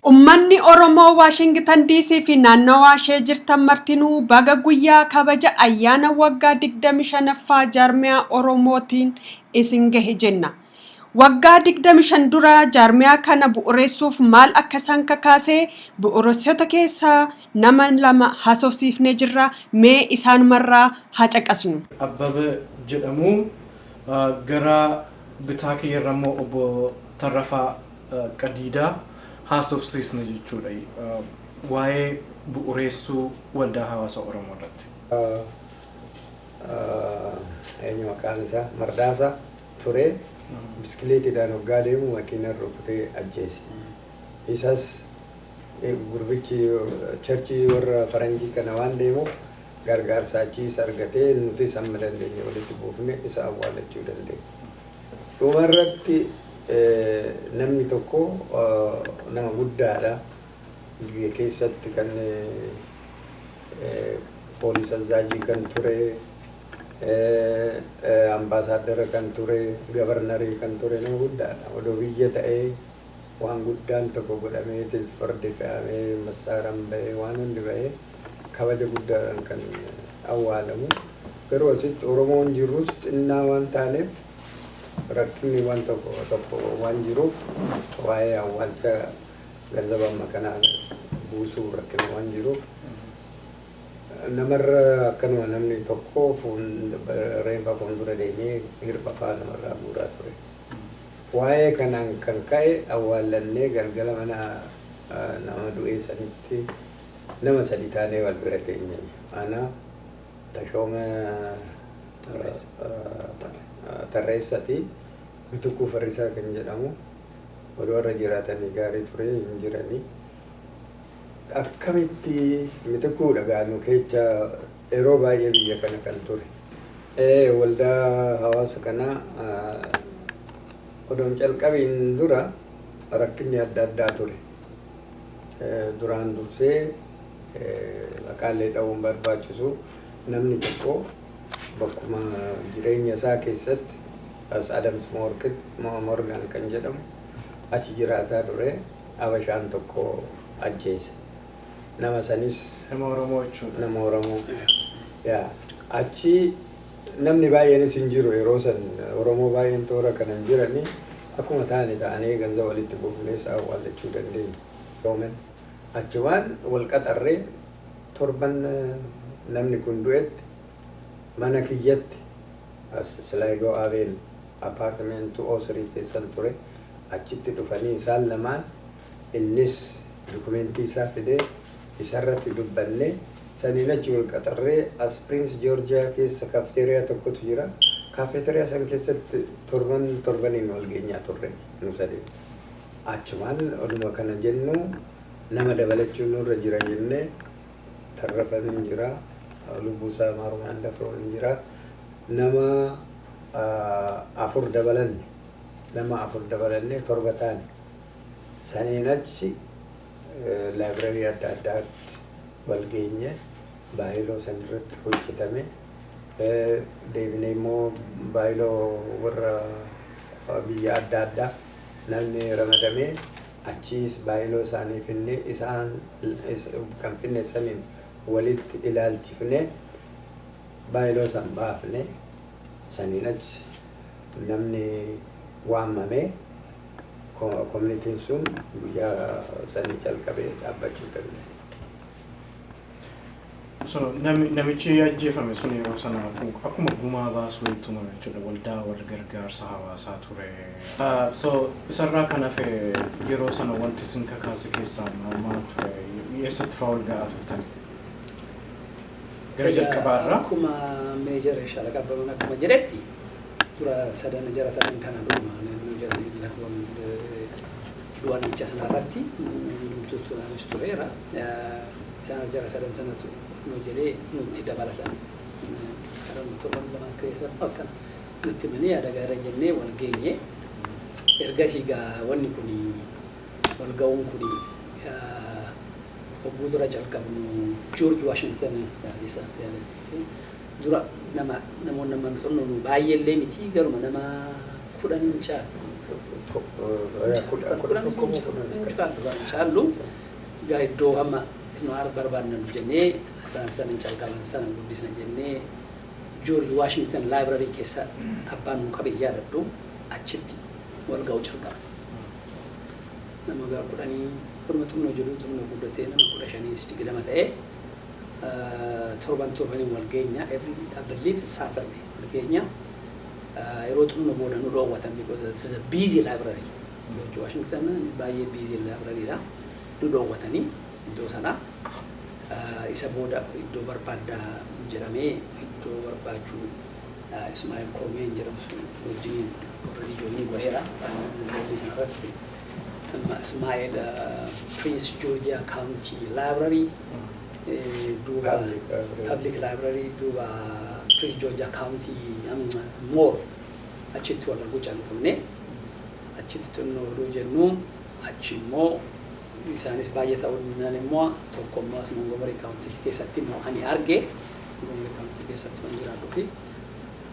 Ummanni Oromoo Waashingitan DC fi naannawaa ishee jirtan martinuu baga guyyaa kabaja ayyaana waggaa 25ffaa Jaarmiyaa Oromootiin isin gahe jenna. Waggaa 25 dura jaarmiyaa kana bu'ureessuuf maal akka isaan kakaase bu'uureessitoota keessaa nama lama haasofsiifnee jirra, mee isaanumarraa haa caqasnu. Abbaba jedhamu. Gara bitaa kiyyarrammoo Obbo Tarrafaa. qadiidaa haasofsiisna jechuudha waa'ee bu'ureessuu waldaa hawaasa Oromoo irratti. eenyu maqaan isaa Mardaasaa turee biskileetiidhaan hoggaa deemu makiinan rukutee ajjeese. Isas gurbichi charchii warra faranjii kana waan deemuuf gargaarsa achiis argatee nutis hamma dandeenye walitti buufne isa awwaalachuu dandeenye. Dhuma irratti namni tokko nama guddaadha. Biyya keessatti kan poolis azaajii kan ture, ambaasaaddara kan ture, gabarnarii kan ture nama guddaadha. Odoo biyya ta'ee. waan guddaan tokko godhameetiif fardi fe'amee, massaaraan ba'ee, waan hundi ba'ee kabaja guddaadhaan kan awwaalamu. Garuu asitti Oromoon jirrus xinnaa waan taaneef rakkinni waan tokko tokko waan jiruuf waa'ee awwaalcha ganzaba amma kanaa buusuu rakkina waan jiruuf namarra akkanuma namni tokko fuun- reenfa fuuldura deemee hirphafaa namarraa guuraa ture. Waa'ee kanaan kan ka'e awwaallannee galgala mana nama du'ee sanitti nama sadi taanee wal bira teenye. Ana, Tashooma Tarreessati, Mitukuu Farrisaa kan jedhamu odoo har'a jiraatanii gaarii ture hin jirani. Akkamitti Mitikuu dhagaa nu keecha yeroo baay'ee biyya kana kan ture. Ee waldaa hawaasa kanaa odoo hin calqabiin dura rakkinni adda addaa ture. Duraan dursee maqaallee dha'uu hin barbaachisu namni tokko bakkuma jireenya isaa keessatti as Adams Morgan kan jedhamu achi jiraataa ture. Habashaan tokko ajjeese. Nama sanis. Nama Oromoo jechuudha. Nama Oromoo. Yaa. Achi namni baay'eenis hin jiru yeroo san Oromoo baay'een toora kana hin jirani. Akkuma taane taanee ganza walitti buufnee isaa awwaallachuu dandeenya. Yoomen. Achumaan wal qaxarree torban namni kun du'etti Mana kiyyatti, as Sligo Avenue, apartment 203 keessan ture, achitti dhufanii isaan lamaan, innis dukumeentii isaa fidee isarratti dubbanne, saniin achi wal qaxarree, as Prince Georgia keessa cafeteria tokkotu jira, cafeteria san keessatti torban torbaniin wal geenyaa turre nu sadeen. Achumaan oduma kana jennu nama dabalachuun nurra jira jennee, tarrafatu hin jira lubbuu isaa maarumaan dafroon hin jira nama afur dabalanne nama afur dabalanne torba taane saniin achi laayibrarii adda addaatti wal geenye baayiloo san irratti hojjetame deebinee immoo baayiloo warra biyya adda addaa namni ramadamee Achiis baay'iloo isaanii finnee isaan kan finne saniin walitti ilaalchifnee baay'iloo san baafne. Saniin achi namni waamamee communitiin sun guyyaa sanii jalqabee dhaabbachuu danda'e. So nami- namichi ajjeefame sun yeroo sana akku- akkuma gumaa baasuu hin tumame jechuudha. Waldaa wal gargaarsa hawaasaa ture. Ah, So isarraa kan hafe yeroo sana wanti isin kakaase keessaa ma- maal ture? Eessatti fa'aa wal ga'aa turtan? Gara jalqabaa irraa Akkuma meejara shalaqa abbaman akkuma jedhetti dura sadan jara sadan kana dhuma naannoo jarri lakkoon du'a namicha sanarratti hundumtuu turaanis tureera. Isaan arjara sadan sanatu nu jedhee nutti dabalatan. Karan torban lamaan keessa maal kana nutti himanii yaada gaariidha jennee wal geenye. Ergasii gaa wanni kun wal ga'uun kun hogguu dura calqabnu Joorji Waashingtan isa dura nama namoonni amma nu xunnu nu baay'ee illee miti garuma nama kudhan hin caalu. Kudhan hin caalu. Egaa iddoo hamma xinnoo ar barbaadna nu jennee afran sanan calqaban sanan guddisna jennee George Washington Library keessa abbaan nuu qabe hin yaadadhu achitti wal ga'uu calqabne. Nama gara kudhanii wanuma xinnoo jedhuu xinnoo guddatee nama kudha shaniis digdama ta'ee torban torbaniin wal geenya every I believe it's Saturday wal geenya. Yeroo xinnoo booda nu dhoowwatan because it is a busy library Joorji Waashingtan baay'ee biizii laabrariidha. Nu dhoowwatanii iddoo sanaa. Isa booda iddoo barbaaddaa jedhamee iddoo barbaachuu Ismaa'el Kormeen jedhamu sun wajjiniin already joinii godheera. Joinii sana irratti amma Ismaa'el Prince Georgia County Library duuba Public Library. Public Library duuba Prince Georgia County I mean Moore achitti wal arguu caamfamne. Achitti xinnoo oduu jennu achi immoo isaanis baay'ee ta'uu didnaan immoo tokko immoo as Montgomery County keessatti immoo ani arge. Montgomery County keessatti waan jiraadhuu fi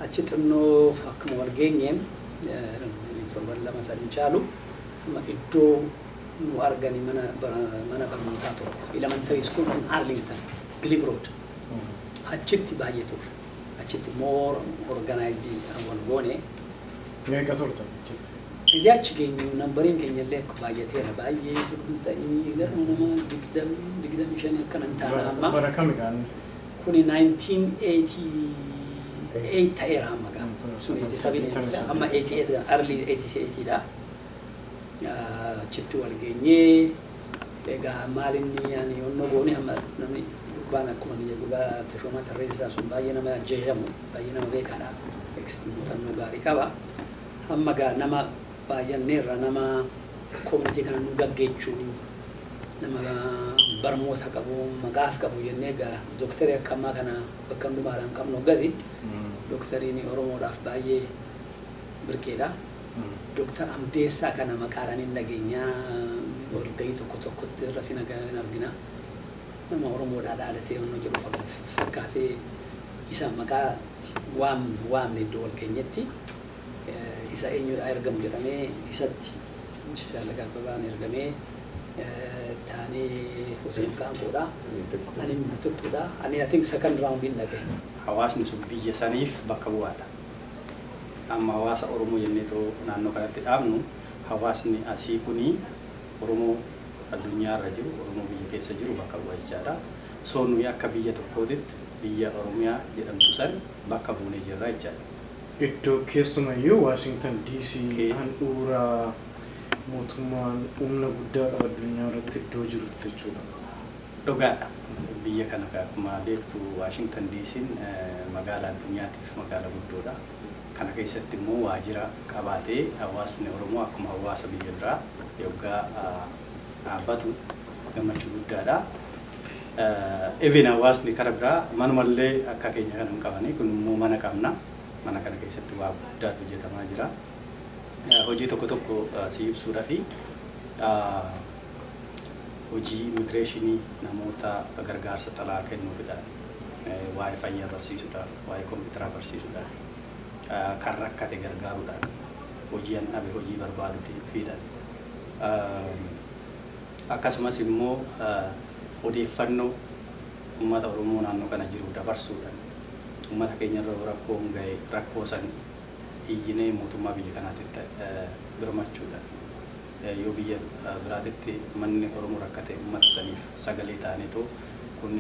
achi xinnoo akkuma wal geenyeen torban lama san hin caalu amma iddoo nu argani mana mana barnootaa tokko elementary school in Arlington Glebe Road achitti baay'ee turre. achitti more organized dhaan wal goone. Meeqa turtan achitti? Gizee achi geenyu nambariin keenya illee baay'ateera. Baay'ee utuu hin ta'in gara nama 20-25 akkana hin taana Bara amma. bara kami kaan? Kuni 1988 ta'eera amma gaa. Sun 87 yoo ta'e, amma 88 dha, early 88 dha. Ah, Achitti wal geenyee. Egaa maal inni ani onnoo goone amma namni gurbaan akkuma biyya gurbaa Tashoomaa Tarreessaa sun baay'ee nama ajjeesamu baay'ee nama beekaadha ex muuxannoo gaarii qaba amma egaa nama baay'anneerra nama community kana nu gaggeechu nama barmoota qabu maqaas qabu jennee egaa doktari akka ammaa kana bakka hundumaadhaan qabnu hoggasi doktariin Oromoodhaaf baay'ee birqeedha. Doktar Amdeessaa kana maqaadhaan hin dhageenyaa walgahii tokko tokkotti irras hin argina. Nama Oromoodhaa dhaadatee onnoo jedhu fakkaatee isa maqaa waamne waamne iddoo wal geenyetti isa eenyu ergamu jedhamee isatti Shallaga Abbabaan ergamee taanee Huseen Kaankoodha. Ani Butukkuudha. Ani I think second round hin dhabe. Hawaasni sun biyya saniif bakka bu'aadha. Amma hawaasa Oromoo jennee otoo naannoo kanatti dhaabnu hawaasni asii kun Oromoo addunyaa irra jiru, Oromoo biyya keessa jiru bakka bu'a jechaadha. So nuyi akka biyya tokkootitti biyya Oromiyaa jedhamtu san bakka buunee jirra jechaadha. Iddoo keessumayyuu Waashingtan DC handhuura mootummaan humna guddaa qabu addunyaa irratti iddoo jirutti jechuudha. Dhugaadha. Biyya kana gaa akkuma beektu Waashington DC'n magaala addunyaatiif magaala guddoodha. Kana keessatti immoo waajira qabaatee hawaasni Oromoo akkuma hawaasa biyya biraa yoggaa batu gammachuu guddaadha. Even hawaasni kara biraa manuma illee akka keenya kana hin qabani. Kun immoo mana qabna. Mana kana keessatti waa guddaatu hojjetamaa jira. Hojii tokko tokko sii ibsuudhafi. hojii immigireeshinii namoota gargaarsa xalaa kennuufidha. Waa'ee fayyaa barsiisudha. Waa'ee kompiitaraa barsiisudha. Kan rakkate gargaaruudhaan hojii an dhabe hojii barbaaduufiidhaan akkasumas immoo odeeffannoo uummata Oromoo naannoo kana jiru dabarsuudhaan uummata keenyarra yoo rakkoon ga'e rakkoo san iyyinee mootummaa biyya kanaatitti birmachuudhaan Yoo biyya biraatitti ummanni Oromoo rakkate ummata saniif sagalee taaneetu kun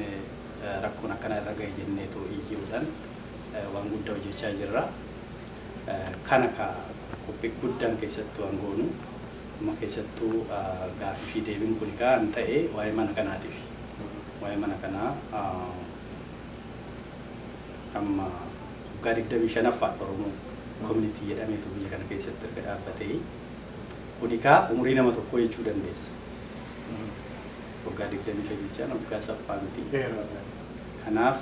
rakkoon akkanaa irra gahe jenneetu iyyuudhan waan guddaa hojjachaa jirra. Kana ka qophii guddaan keessattu an goonu amma keessattu gaafii fi deebiin kuni ka an ta'e waa'ee mana kanaatifi. Waa'ee mana kanaa amma waggaa 25ffaadha Oromoo community jedhameetu biyya kana keessatti erga dhaabbatee. Kuni kaa umurii nama tokkoo jechuu dandeessa. Waggaa 25 jechaan waggaa salphaa miti. Kanaaf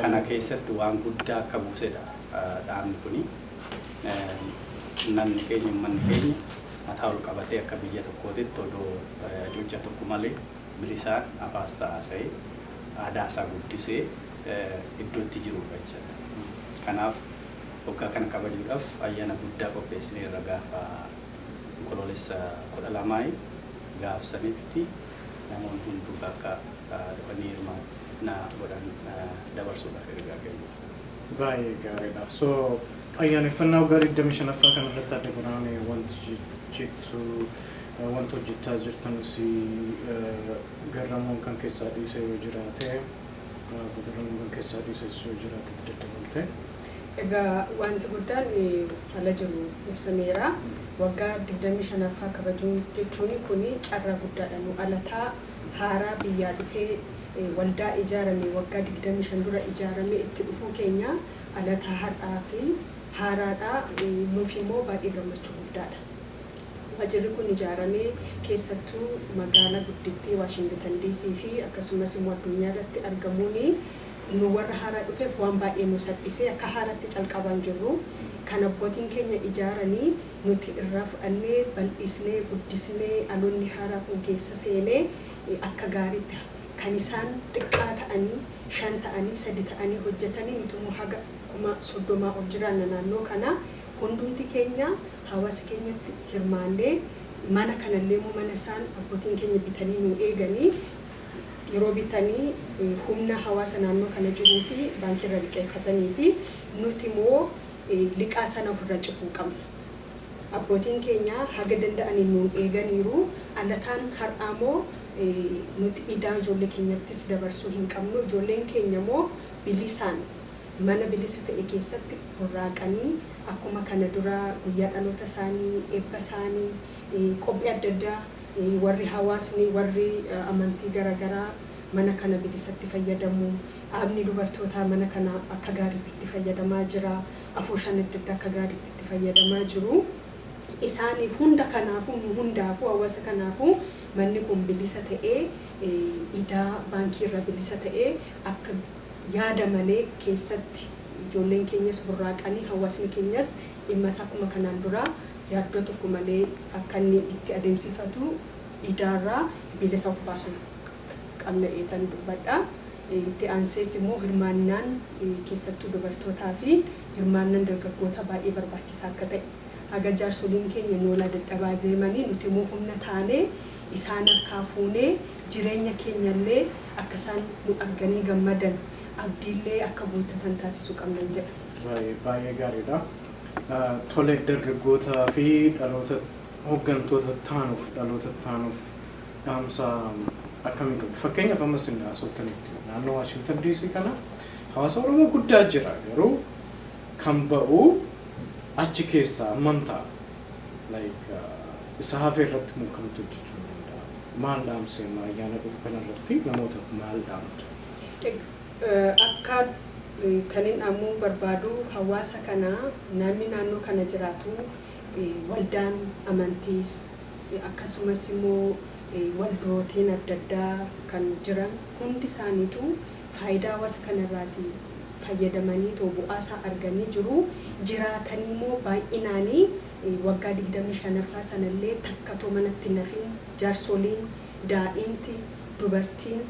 kana keessatti waan guddaa akka buusedha dhaabni kuni. Namni keenya ummanni keenya mataa ol qabatee akka biyya tokkootitti odoo hacuuccaa tokko malee bilisaan afaan isaa haasa'ee aadaa isaa guddisee iddoo itti jirudha jechuudha. Kanaaf. Waggaa kana kabajuudhaaf ayyaana guddaa qopheessineerra gaafa Onkoloolessa 12i gaaf sanitti namoonni hunduu akka dhufanii hirmaannaa godhan dabarsuudhaaf ergaa keenya. Baay'ee gaariidha. So ayyaaneffannaa waggaa 25ffaa kana irratti Aadde Birhaan mee wanti jettu wanti hojjechaa jirtan si garramuun kan keessaa dhiise yoo jiraate, garramuun kan keessaa dhiises yoo jiraate itti daddabaltee. Egaa waanti guddaan ala jiru ibsameera. Waggaa 25ffaa kabajuu jechuun kun carraa guddaadha. Nu alataa haaraa biyyaa dhufee waldaa ijaarame waggaa 25 dura ijaarame itti dhufuu keenya alataa har'aa fi haaraadha. Nuuf immoo baay'ee gammachuu guddaadha. Waajirri kun ijaaramee keessattuu magaala guddittii Waashingitan Diisii fi akkasumas immoo addunyaa irratti argamuun nu warra haaraa dhufeef waan baay'ee nu salphisee akka haaraatti calqabaan jirru kan abbootiin keenya ijaaranii nuti irraa fudhannee bal'isnee guddisnee dhaloonni haaraa kun keessa seenee akka gaariitti kan isaan xiqqaa ta'anii shan ta'anii sadi ta'anii hojjetanii nuti immoo haga kuma soddomaa ol jiraanna naannoo kana hundumti keenya hawaasi keenyatti hirmaannee mana kanallee immoo mana isaan abbootiin keenya bitanii nuu eeganii yeroo bitanii humna hawaasa naannoo kana jiruu fi baankii irra liqeeffataniiti. Nuti immoo liqaa sana of irra cufuu qabna. Abbootiin keenya haga danda'aniin nuun eeganiiru. Alataan har'aa immoo nuti idaa ijoollee keenyattis dabarsuu hin qabnu. Ijoolleen keenya immoo bilisaan mana bilisa ta'e keessatti burraaqanii akkuma kana dura guyyaa dhaloota isaanii, eebba isaanii, qophii adda addaa warri hawaasni warri amantii gara garaa mana kana bilisatti fayyadamu. Dhaabni dubartootaa mana kana akka gaariitti itti fayyadamaa jira. Afooshaan adda addaa akka gaariitti itti fayyadamaa jiru. Isaaniif hunda kanaafuu nu hundaafuu hawaasa kanaafuu manni kun bilisa ta'ee idaa baankii irraa bilisa ta'ee akka yaada malee keessatti ijoolleen keenyas burraaqanii hawaasni keenyas dhimma isaa akkuma kanaan duraa yaaddoo tokko malee akka inni itti adeemsifatu idaarraa bilisa of baasuu qabna eetan dubbadha. Itti aansees immoo hirmaannaan keessattuu dubartootaa fi hirmaannan dargaggootaa baay'ee barbaachisaa akka ta'e, haga jaarsoliin keenya noolaa dadhabaa deemanii nuti immoo humna taanee isaan harkaa fuunee jireenya keenya illee akka isaan nu arganii gammadan abdii illee akka guuttatan taasisuu qabnan jedha. Baay'ee gaariidha. Tole dargaggoota fi dhaloota hoggantoota taanuuf dhaloota taanuuf dhaamsa akkamii qabdu? Fakkeenyaaf amma isin haasoftanitti naannoo Waashingtan DC kana hawaasa Oromoo guddaa jira garuu kan ba'u achi keessaa hammam ta'a? Like isa hafe irratti moo kamtu hojjechuu hin danda'a? Maal dhaamsi amma ayyaana dhufu kana irratti namootaaf maal dhaamtu? Akka kanin dhaamuu barbaadu hawaasa kana namni naannoo kana jiraatu waldaan amantiis akkasumas immoo waldootiin adda addaa kan jiran hundi isaaniituu faayidaa hawaasa kana irraati fayyadamaniitoo bu'aa isaa arganii jiru. Jiraataniimoo baay'inaani waggaa 25ffaa sana illee takka too manatti hin hafin jarsooliin, daa'imti, dubartiin,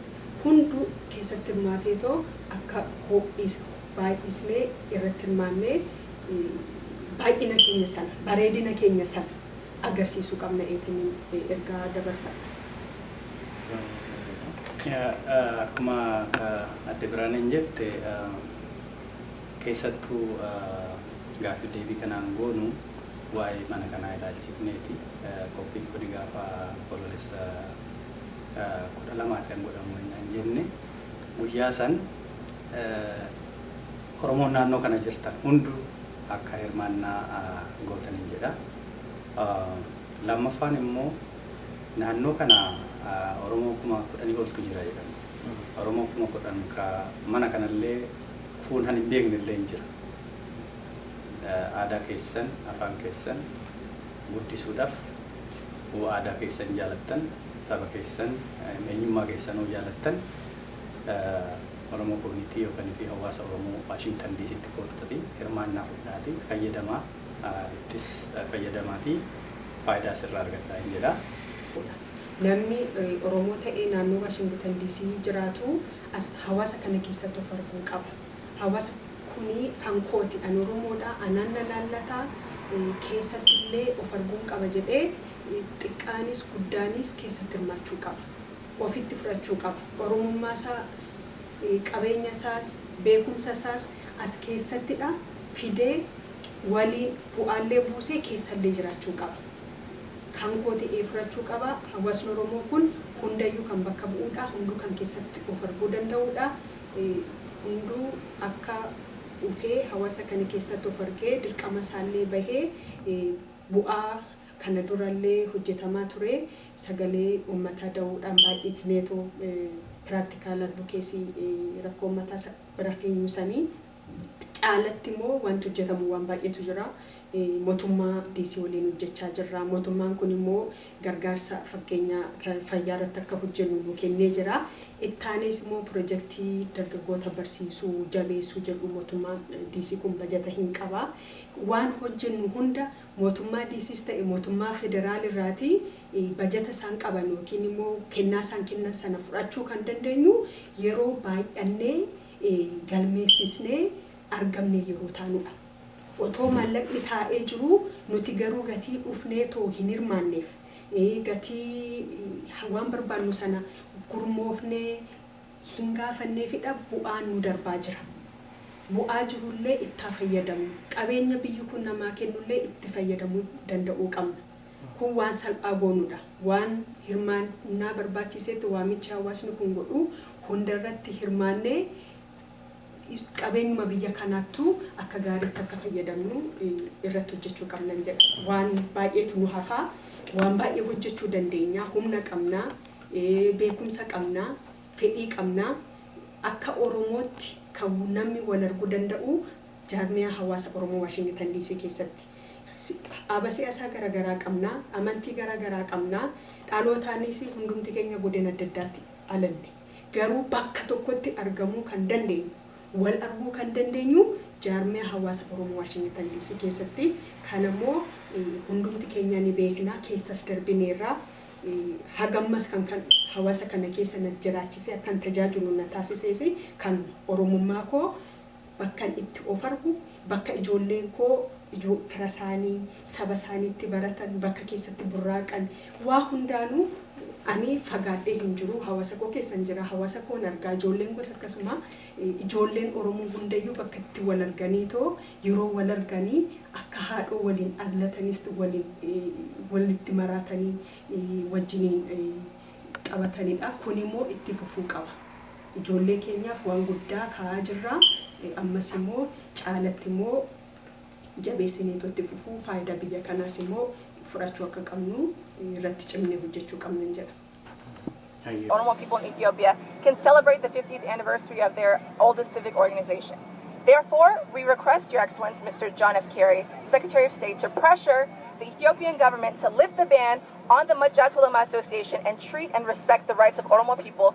hunduu keessatti hirmaateetoo akka ho'isu baay'isnee irratti hirmaannee baay'ina keenya sana, bareedina keenya sana agarsiisuu qabna eetiniin ergaa dabarfadha. Baay'ee gaariidha. Akkuma Aadde Biraaneen jette keessattuu gaaffiif deebii kanaan goonu waa'ee mana kanaa ilaalchifneeti. Qophiin kuni gaafa Onkoloolessa 12 kan godhamu ennaa hin jenne guyyaa san Oromoon naannoo kana jirtan hundu akka hirmaannaa gootaniin jedha. Lammaffaan immoo naannoo kana Oromoo kuma kudhanii oltu jira jedhame. Oromoo kuma kudhan ka mana kanallee kuun han hin beeknellee hin jira. Aadaa keessan, afaan keessan, guddisuudhaf hoo aadaa keessan jaalattan, saba keessan, eenyummaa keessan hoo jaalattan Oromo Community yookan fi Hawwaasa Oromoo Washington DCtti koottaatii hirmaannaa fudhaatii fayyadamaa, ittis fayyadamaatii faayidaa asirraa argadhaa in jedha. Namni Oromoo ta'ee naannoo Washington DC jiraatu as hawaasa kana keessatti of arguu qaba. Hawasa kuni kan kooti an oromoodha anaan na laallata keessatti illee of arguun qaba jedhee xiqqaanis guddaanis keessatti hirmaachuu qaba ofitti fudhachuu qaba oromummaa isaas qabeenya isaas beekumsa isaas as keessattidha fidee waliin bu'aa illee buusee keessa illee jiraachuu qaba kan kooti ee fudhachuu qaba hawasni oromoo kun hundayyuu kan bakka bu'uudha hunduu kan keessatti of arguu danda'uudha Hunduu akka ufee hawasa kana keessatti of argee dirqama isaallee bahee bu'aa kana durallee hojjetamaa turee sagalee ummataa dawuudhaan baay'itneetoo practical advocacy rakkoo ummataa bira keenyu sanii. caalatti immoo wanti hojjetamu waan baay'eetu jira. Motummaa DC waliin hojjechaa jirra. Motummaan kun immoo gargaarsa fakkeenya fayyaa irratti akka hojjennu nu kennee jira. Ittaanees immoo pirojektii dargaggoota barsiisuu, jabeessuu jedhu motummaan DC kun bajata hin qaba. Waan hojjennu hunda motummaa DCs ta'e motummaa federaal irraati bajata isaan qaban ykn immoo kennaa isaan kennan sana fudhachuu kan dandeenyu yeroo baay'annee galmeessisnee argamne yeroo taanudha. Otoo maallaqni taa'ee jiruu nuti garuu gatii dhufnee otoo hin hirmaanneef, gatii waan barbaannu sana gurmoofnee hin gaafanneefidha bu'aan nu darbaa jira. Bu'aa jirullee itti haa fayyadamnu. Qabeenya biyyi kun namaa kennullee itti fayyadamuu danda'uu qabna. Kun waan salphaa goonudha. Waan hirmaan naa barbaachiiseetti waamichi hawaasni kun godhu hundarratti hirmaannee qabeenyuma biyya kanaattu akka gaariitti akka fayyadamnu irratti hojjechuu qabnan jedha. Waan baay'eetu nu hafa. Waan baay'ee hojjechuu dandeenya. Humna qabna. Beekumsa qabna. Fedhii qabna. Akka Oromootti kan namni wal argu danda'u jaarmiyaa hawaasa Oromoo Waashingitan Diisii keessatti. Aba siyasaa gara garaa qabna, amantii gara garaa qabna, dhalootaanis hundumti keenya godina adda addaatti dhalanne. Garuu bakka tokkotti argamuu kan dandeenyu, wal arguu kan dandeenyu jaarmiyaa hawaasa Oromoo Waashingitan DC keessatti. Kana immoo hundumti keenya ni beekna, keessas darbineerra. Hagammas kan kan hawaasa kana keessa na jiraachisee akkan tajaajilu na taasisees kan Oromummaa koo Bakkan itti of argu, bakka ijoolleen koo ijoo firasaanii, sabasaanii itti baratan, bakka keessatti burraaqan, waa hundaanuu ani fagaadhee hin jiru. Hawaasakoo keessan jira. Hawaasakoon arga. Ijoolleen koos akkasuma. Ijoolleen Oromoo hundayyuu bakka itti wal arganiitoo yeroo wal arganii akka haadhoo waliin dhallatanisti waliin walitti maraatanii wajjiniin taphatanidha. Kunimoo itti fufuu qaba. Ijoollee keenyaaf waan guddaa kaa'aa jirra. Ammas immoo caalatti immoo jabeessineetoo itti fufuu, faayidaa biyya kanaas immoo fudhachuu akka qabnu irratti cimnee hojjechuu qabnan jedha. Oromo people in Ethiopia can celebrate the 50th anniversary of their oldest civic organization. Therefore, we request Your Excellence, Mr. John F. Kerry, Secretary of State, to pressure the Ethiopian government to lift the ban on the Majjatulama Association and treat and respect the rights of Oromo people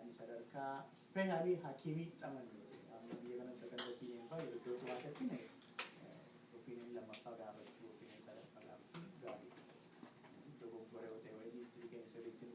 Ani sadarkaa specially hakiimii dhaman amma biyya kana second opinion fa'a yeroo iddoo turaa shakkine opinion lammaffaa gaafachuu opinion sadaffaa gaafachuu gaariidha. Dogoggora yoo ta'e wayii history keenya sirriitti nu